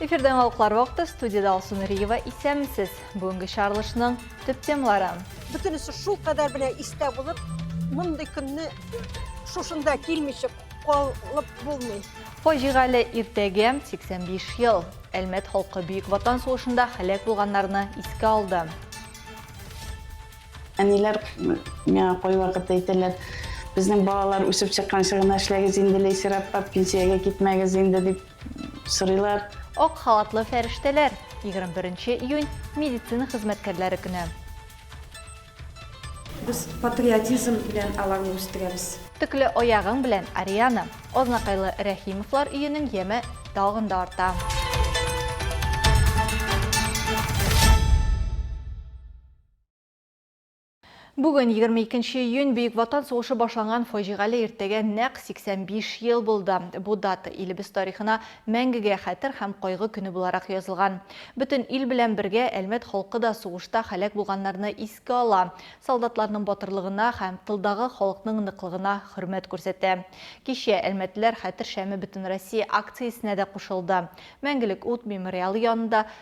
Эфирдә яңалыклар вакыты студияда Алсу Нуриева исәнмесез. Бүгенге чаралышның төп темалары. Бөтенесе шул кадәр менә истә булып, мондый көнне шушында килмичек калып булмый. Фаҗигале иртәгә 85 ел. Әлмәт халкы Бөек Ватан сугышында һәлак булганнарны искә алды. Әниләр миңа кайвакыт әйтәләр, безнең балалар үсеп чыкканчы гына эшләгез инде, Ләйсәр апа, пенсиягә китмәгез инде, дип. сорыйлар. Ак халатлы фәрештәләр, 21 нче июнь, медицина хезмәткәрләре көне. Без патриотизм белән аларны үстерәбез. Төкле аягың белән, Ариана! Азнакайлы Рәхимовлар өенең яме тагын да арта. Бүген, егерме икенче июнь, Бөек Ватан сугышы башланган фаҗигале иртәгә нәкъ 85 ел булды. Бу дата илебез тарихына мәңгегә хәтер һәм кайгы көне буларак язылган. Бөтен ил белән бергә Әлмәт халкы да сугышта һәлак булганнарны искә ала, солдатларның батырлыгына һәм тылдагы халыкның ныклыгына хөрмәт күрсәтә. Кичә Әлмәтлеләр хәтер шәме Бөтенроссия акциясенә дә кушылды. Мәңгелек ут мемориалы янында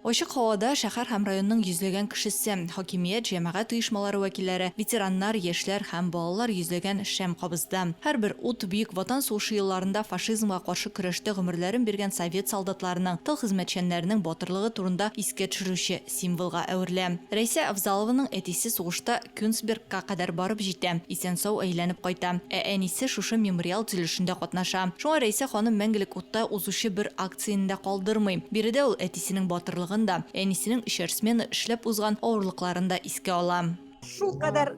Ачык һавада шәһәр һәм районның йөзләгән кешесе, хакимият, җәмәгать оешмалары вәкилләре, ветераннар, яшьләр һәм балалар йөзләгән шәм кабызды. Һәрбер ут Бөек Ватан сугышы елларында фашизмга каршы көрәштә гомерләрен биргән совет солдатларының, тыл хезмәтчәннәренең батырлыгы турында искә төшерүче символга әверелә. Рәйсә Авзалованың әтисе сугышта Кёнсбергка кадәр барып җитә, исән-сау әйләнеп кайта, ә әнисе шушы мемориал төзелешендә катнаша. Шуңа Рәйсә ханым мәңгелек утта узучы бер Цин дә калдырмый. Биредә ул әтисенең батырлыгын да, әнисенең өчәр смена эшләп узган авырлыкларын да искә ала. Шулкадәр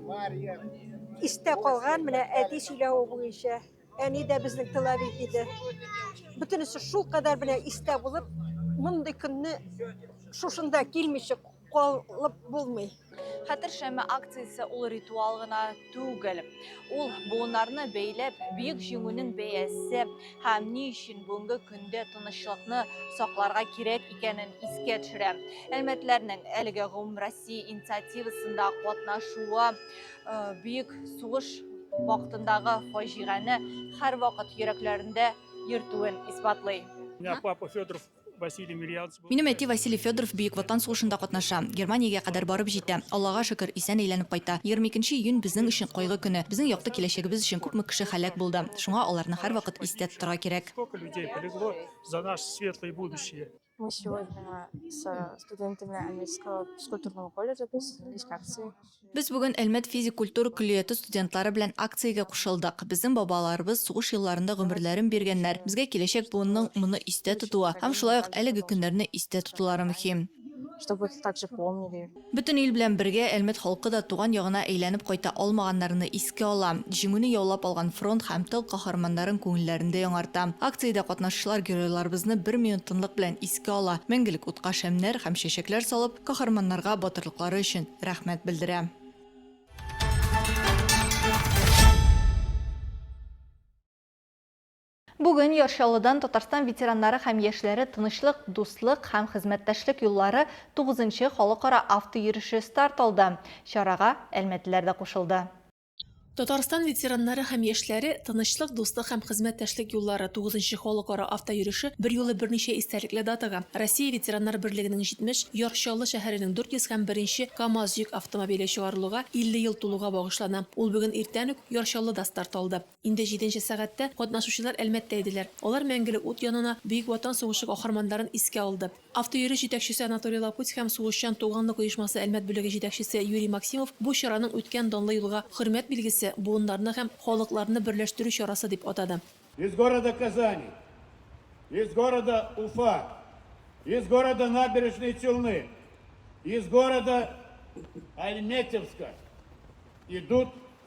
истә калган, менә әти сөйләве буенча, әни дә безнең тыловик иде. Бөтенесе шулкадәр менә истә булып, мондый көнне шушында килмичек, калып булмый. Хәтер шәме акциясе ул ритуал гына түгел. Ул буыннарны бәйләп, бөек җиңүнең бәясе һәм ни өчен бүгенге көндә тынычлыкны сакларга кирәк икәнен искә төшерә. Әлмәтләрнең әлеге гомумроссия инициативасында катнашуы э, бөек сугыш вакытындагы фаҗигане һәрвакыт йөрәкләрендә йөртүен исбатлый. Папа Федоров Минем әти Василий Федоров Бөек Ватан сугышында катнаша. Германиягә кадәр барып җитә. Аллага шөкер, исән әйләнеп кайта. Егерме икенче июнь безнең өчен кайгы көне. Безнең якты киләчәгебез өчен күпме кеше һәлак булды. Шуңа аларны һәрвакыт истә тотарга кирәк. Мы сегодня со студентами Амельского физкультурного колледжа присоединились к акции Без бүген Әлмәт физик-культура көллияте студентлары белән акциягә кушылдык. Безнең бабаларыбыз сугыш елларында гомерләрен биргәннәр, безгә киләчәк буынның моны истә тотуы һәм шулай ук әлеге көннәрне истә тотулары мөһим. Бөтен ил белән бергә Әлмәт халкы да туган ягына әйләнеп кайта алмаганнарны искә ала, Җиңүне яулап алган фронт һәм тыл каһарманнарын күңелләрен дә яңарта. Акциядә катнашучылар геройларыбызны бер минут тынлык белән искә ала, мәңгелек утка шәмнәр һәм чәчәкләр салып, Каһарманнарга батырлыклары өчен рәхмәт белдерәм. Бүген Ярчалыдан Татарстан ветераннары һәм яшьләре тынычлык, дуслык һәм хезмәттәшлек юллары 9 нчы халыкара автоереше старт алды. Чарага әлмәтлеләр дә кушылды. Татарстан ветераннары һәм яшьләре Тынычлык, дуслык һәм хезмәттәшлек юллары 9 халыкара автойөреше берьюлы берничә истәлекле датага, Россия ветераннар берлегенең 70, Яр Чаллы шәһәренең 400 һәм беренче КАМАЗ йөк автомобиле чыгарылуга 50 ел тулуга багышлана. Ул бүген иртән үк Яр Чаллыда старт алды. Инде җиденче сәгатьтә катнашучылар Әлмәттә иделәр. Алар Мәңгелек ут янына Бөек Ватан сугышы каһарманнарын искә алды. Автойөреш җитәкчесе Анатолий Лапуть һәм Сугышчан туганлык оешмасы Әлмәт бүлеге җитәкчесе Юрий Максимов бу чараның үткән данлы юлга хөрмәт билгесе, буыннарны һәм халыкларны берләштерү чарасы дип атады. Из города Казани, из города Уфа, из города Набережные Челны, из города Альметьевска идут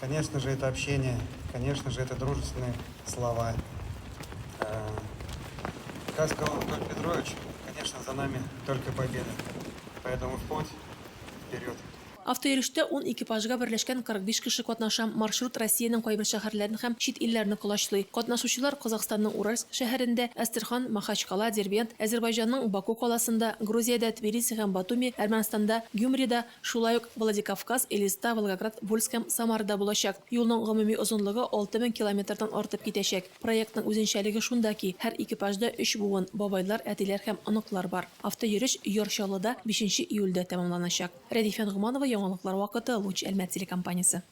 Конечно же это общение, конечно же это дружественные слова. Как сказал Анатолий Петрович, конечно за нами только победа. Поэтому в путь, вперед! Автойөрештә ун экипажга берләшкән 45 кеше катнаша. Маршрут Россиянең кайбер шәһәрләрен һәм чит илләрне колачлый. Катнашучылар Казахстанның Уральск шәһәрендә, Әстерхан, Махачкала, Дербент, Әзербайҗанның Баку каласында, Грузиядә, Тбилиси һәм Батуми, Әрмәнстанда, Гюмрида, Шулай ук Владикавказ, Элиста, Волгоград, Вольск һәм Самара да булачак. Юлның гомуми озынлыгы алты мең километрдан артып китәчәк. Проектның үзенчәлеге шунда ки, һәр экипажда өч буын, бабайлар, әтиләр һәм оныклар бар. Автойөреш Яр Чаллыда бишенче июльдә тәмамланачак. Рәдифә Ногманова, Яңалыклар вакыты, Луч Әлмәт телекомпаниясе.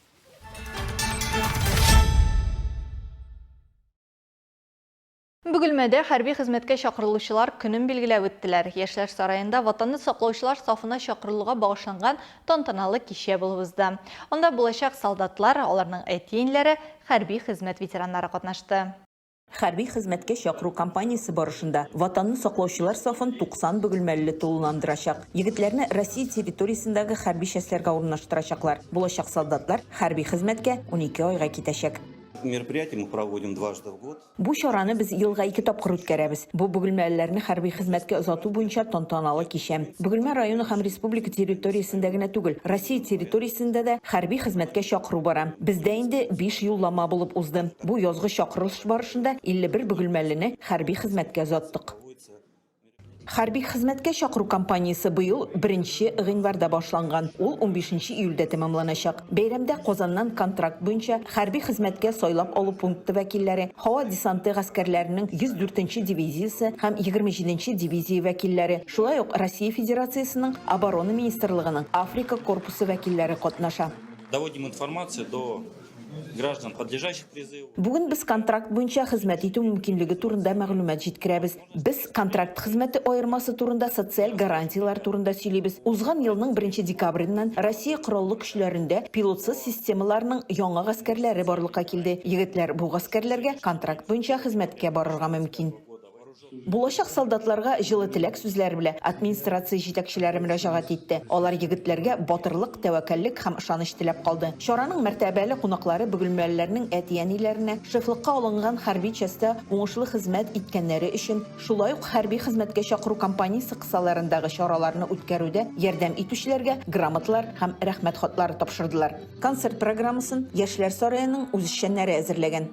Бөгелмәдә хәрби хезмәткә чакырылучылар көнен билгеләп үттеләр. Яшьләр сараенда Ватанны саклаучылар сафына чакырылуга багышланган тантаналы кичә булып узды. Анда булачак солдатлар, аларның әти-энләре, хәрби хезмәт ветераннары катнашты. Хәрби хезмәткә чакыру кампаниясе барышында Ватанны саклаучылар сафын 90 бөгелмәлеле тулыландырачак. Егетләрне Россия территориясендәге хәрби частьләргә урнаштырачаклар. Булачак солдатлар хәрби хезмәткә унике айга китәчәк. Мероприятие мы проводим дважды в год. Бу чараны без елга ике тапкыр үткәрәбез. Бу, бөгелмәлеләрне хәрби хезмәткә озату буенча тантаналы кичә. Бөгелмә районы һәм республика территориясендә генә түгел, Россия территориясендә дә хәрби хезмәткә чакыру бара. Бездә инде биш юллама булып узды. Бу язгы чакырылыш барышында 51 бөгелмәлене хәрби хезмәткә озаттык. Хәрби хезмәткә чакыру кампаниясе быел беренче гыйнварда башланган, ул унбишенче июльдә тәмамланачак. Бәйрәмдә Казаннан контракт буенча хәрби хезмәткә сайлап алу пункты вәкилләре, һава десанты гаскәрләренең 104 нче дивизиясе һәм 27 нче дивизия вәкилләре, шулай ук Россия Федерациясенең Оборона министрлыгының Африка корпусы вәкилләре катнаша. Доводим информацию до Бүген без контракт буенча хезмәт итү мөмкинлеге турында мәгълүмат җиткерәбез. Без контракт хезмәте аермасы турында, социаль гарантияләр турында сөйлибез. Узган елның беренче декабреннән Россия Кораллы Көчләрендә пилотсыз системаларның яңа гаскәрләре барлыкка килде. Егетләр бу гаскәрләргә контракт буенча хезмәткә барырга мөмкин. Булачак солдатларга җылы теләк сүзләре белән администрация җитәкчеләре мөрәҗәгать итте. Алар егетләргә батырлык, тәвәккәллек һәм ышаныч теләп калды. Чараның мәртәбәле кунаклары бөгелмәлеләрнең әти-әниләренә, шефлыкка алынган хәрби частьта уңышлы хезмәт иткәннәре өчен, шулай ук хәрби хезмәткә чакыру кампаниясе кысаларындагы чараларны үткәрүдә ярдәм итүчеләргә грамоталар һәм Рәхмәт хатлары тапшырдылар. Концерт программасын Яшьләр сараеның үзешчәннәре әзерләгән.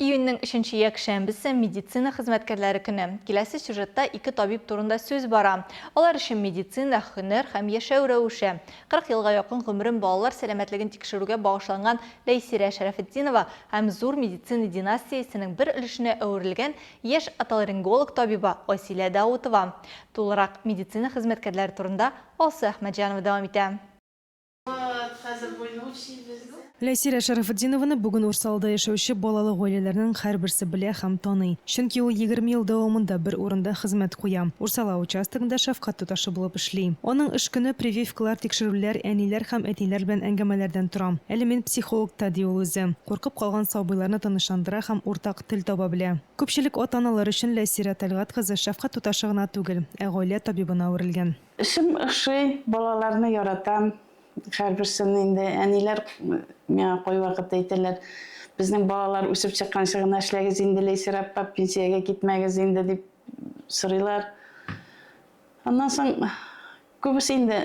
Июньнең өченче якшәмбесе, медицина хезмәткәрләре көне. Киләсе сюжетта ике табиб турында сүз бара. Алар өчен медицина, һөнәр һәм яшәү рәвеше. 40 елга якын гомерен балалар сәламәтлеген тикшерүгә багышланган Ләйсирә Шәрәфетдинова һәм зур медицина династиясенең бер өлешенә әверелгән яшь отоларинголог табибы Айсилә Даутова. Тулырак медицина хезмәткәрләре турында Алсу Әхмәтҗанова дәвам итә. Ләйсирә Шәрәфетдинованы бүген Урсалда яшәүче балалы гаиләләрнең һәрберсе белә һәм таный. Чөнки ул егерме ел дәвамында бер урында хезмәт куя, Урсала участогында шәфкать туташы булып эшли. Аның эш көне прививкалар, тикшерүләр, әниләр һәм әтиләр белән әңгәмәләрдән тора. Әле мин психологта, ди ул үзе. Куркып калган сабыйларны тынычландыра һәм уртак тел таба белә. Күпчелек ата-аналар өчен Ләйсирә Тәлгать кызы шәфкать туташы гына түгел, ә гаилә табибына әверелгән. Эшем ошый, балаларны яратам. Һәрберсен инде әниләр миңа кайвакыт әйтәләр, безнең балалар үсеп чыкканчы гына эшләгез инде, Ләйсәр апа, пенсиягә китмәгез инде, дип сорыйлар. Аннан соң күбесе инде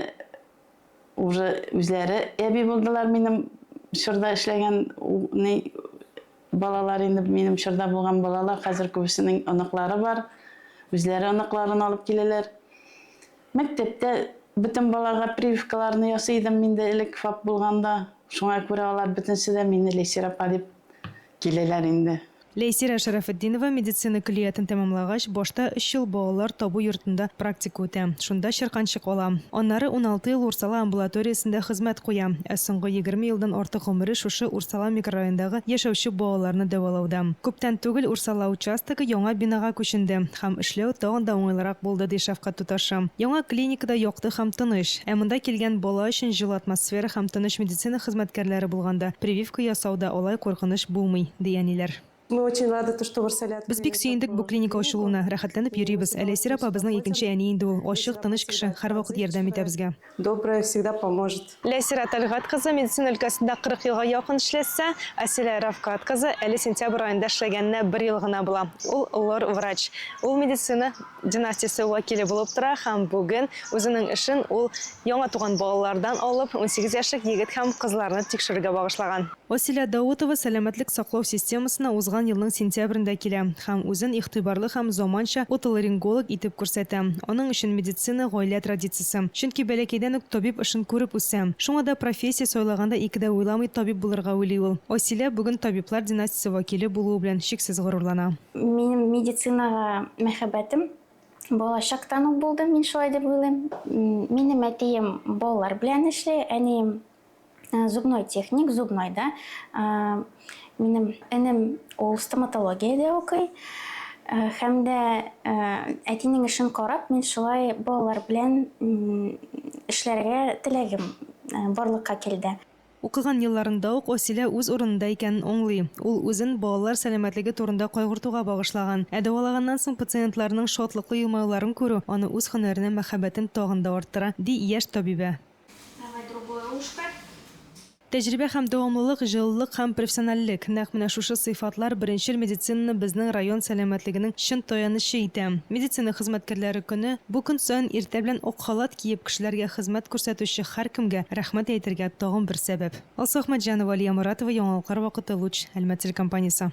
уже үзләре әби булдылар минем чорда эшләгән Балалар инде минем чорда булган балалар, хәзер күбесенең оныклары бар. Үзләре оныкларын алып киләләр. Мәктәптә бөтен балаларга прививкаларны ясый идем мин дә элек ФАП булганда. Шуңа күрә алар бөтенесе дә мине Ләйсир апа дип киләләр инде. Ләйсирә Шәрәфетдинова медицина көллиятен тәмамлагач, башта өч ел балалар табу йортында практика үтә, шунда чирканчык ала. Аннары уналты ел Урсала амбулаториясендә хезмәт куя, ә соңгы егерме елдан артык гомере шушы Урсала микрорайондагы яшәүче балаларны дәвалауда. Күптән түгел Урсала участогы яңа бинага күченде һәм эшләү тагын да уңайлырак булды, ди шәфкать туташы. Яңа клиникада якты һәм тыныч. Ә монда килгән бала өчен җылы атмосфера һәм тыныч медицина хезмәткәрләре булганда, прививка ясау да алай куркыныч булмый, ди әниләр. Без бик сөендек бу клиника ачылуына, рәхәтләнеп йөрибез. Әле Әсир апа безнең икенче әни инде ул. Ачык, тыныч кеше, һәрвакыт ярдәм итә безгә. Добрая, всегда поможет. Ләйсирә Тәлгать кызы медицина өлкәсендә 40 елга якын эшләсә, Асилә Рафкат кызы әле сентябрь аенда эшләгәненә бер ел гына була. Ул лор-врач. Ул медицина династиясе вәкиле булып тора һәм бүген үзенең эшен ул яңа туган балалардан алып, унсигез яшьлек егет һәм кызларны тикшерергә багышлаган. Василә Даутова сәламәтлек саклау системасына узган елның сентябрендә килә һәм үзен игътибарлы һәм заманча отоларинголог итеп күрсәтә. Аның өчен медицина, гаилә традициясе. Чөнки бәләкәйдән үк табиб эшен күреп үсә. Шуңа да профессия сайлаганда ике дә уйламый табиб булырга уйлый ул. Василә бүген табиблар династиясе вәкиле булуы белән чиксез горурлана. Минем медицинага мәхәббәтем балачактан ук булды, мин шулай дип уйлыйм. Минем әтием балалар белән эшли, әнием э, зубной техник, зубнойда. Э, минем энем ул стоматологиядә укый. Э, һәм дә әтинең эшен карап, мин шулай балалар белән эшләргә теләгем барлыкка килде. Укыган елларында ук Асилә үз урынында икәнен аңлый. Ул үзен балалар сәламәтлеге турында кайгыртуга багышлаган. Ә дәвалаганнан соң пациентларның шатлыклы елмаюларын күрү аны үз һөнәренә мәхәббәтен тагын да арттыра, ди яшь табибә. Давай другое ушко. Тәҗрибә һәм дәвамлылык, җылылык һәм профессиональлек, нәкъ менә шушы сыйфатлар беренчел медицинаны безнең район сәламәтлегенең чын таянычы итә. Медицина хезмәткәрләре көне. Бу көн саен иртә белән ак халат киеп кешеләргә хезмәт күрсәтүче һәркемгә рәхмәт әйтергә тагын бер сәбәп. Алсу Әхмәтҗанова, Алия Моратова, Яңалыклар вакыты, Луч, Әлмәт телекомпаниясе.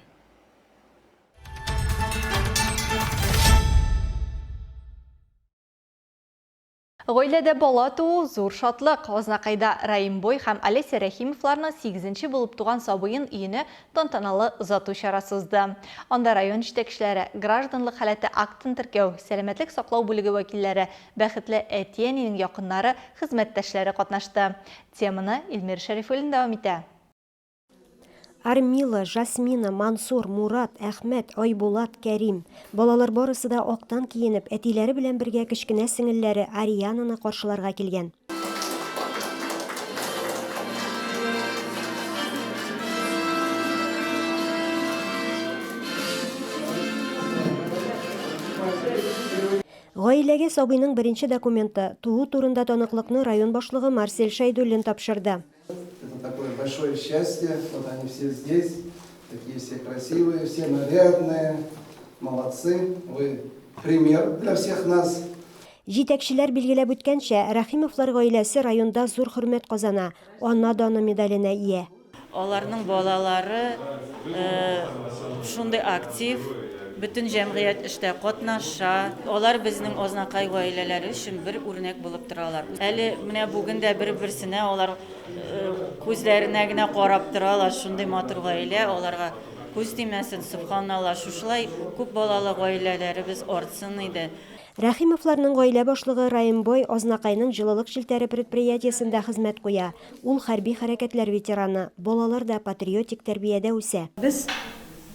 Гаиләдә бала туу, зур шатлык! Азнакайда Раимбой һәм Олеся Рәхимовларның сигезенче булып туган сабыен өенә Тантаналы озату чарасы узды. Анда район җитәкчеләре, гражданлык халәте актын теркәү, сәламәтлек саклау бүлеге вәкилләре, бәхетле әти-әнинең якыннары, хезмәттәшләре катнашты. Теманы Илмир Шәрифуллин дәвам итә. Армила, Жасмина, Мансур, Мурат, Әхмәт, Айбулат, Кәрим, Балалар барысы да актан киенеп, әтиләре белән бергә кечкенә сеңелләре Ариананы каршыларга килгән. Гаиләгә сабыйның беренче документы, туу турында таныклыкны район башлыгы Марсель Шәйдуллин тапшырды. Это такое большое счастье, вот они все здесь, такие все красивые, все нарядные, молодцы, вы пример для всех нас. Җитәкчеләр билгеләп үткәнчә, Рахимовлар гаиләсе районда зур хөрмәт казана, ана даны медаленә ия. Аларның балалары шундый актив, бөтен җәмгыять эштә катнаша. Алар безнең Азнакай гаиләләре өчен бер үрнәк булып торалар. Әле менә бүген дә бер-берсенә алар күзләренә генә карап торалар, шундый матур гаилә, аларга күз тимәсен, сөбханалла, шушылай күп балалы гаиләләребез артсын иде. Рәхимовларның гаилә башлыгы Раимбой Азнакайның җылылык челтәре предприятиесендә хезмәт куя. Ул хәрби хәрәкәтләр ветераны, балалар да патриотик тәрбиядә үсә. Без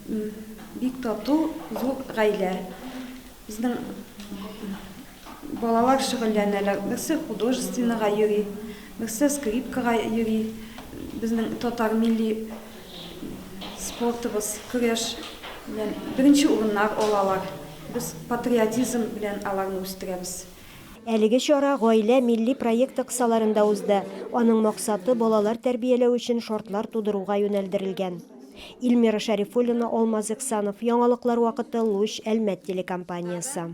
бик тату, зур гаилә. Безнең балалар шөгыльләнәләр, берсе художественныйга йөри, берсе скрипкага йөри. Безнең татар милли спортыбыз, көрәш белән беренче урыннар алалар. Без патриотизм белән аларны үстерәбез. Әлеге чара Гаилә милли проекты кысаларында узды, аның максаты балалар тәрбияләү өчен шартлар тудыруга юнәлдерелгән. Ильмира Шәрифуллина, Алмаз Эксанов, Яңалыклар вакыты, Луч, Әлмәт телекомпаниясе.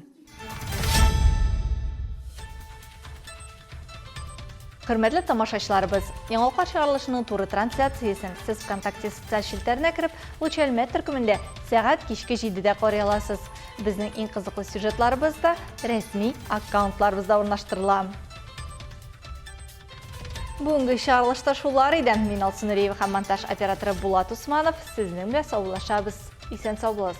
Хөрмәтле тамашачыларыбыз, Яңалыклар чыгарылышының туры трансляциясен сез Вконтакте социаль челтәренә кереп, Луч Әлмәт төркемендә сәгать кичке җидедә карый аласыз. Безнең иң кызыклы сюжетларыбыз да рәсми аккаунтларыбызда урнаштырыла. Бүгенге чыгарылышта шулар иде. Мин Алсу Нуриева һәм монтаж операторы Булат Усманов. Сезнең белән саубуллашабыз. Исән сау булыгыз.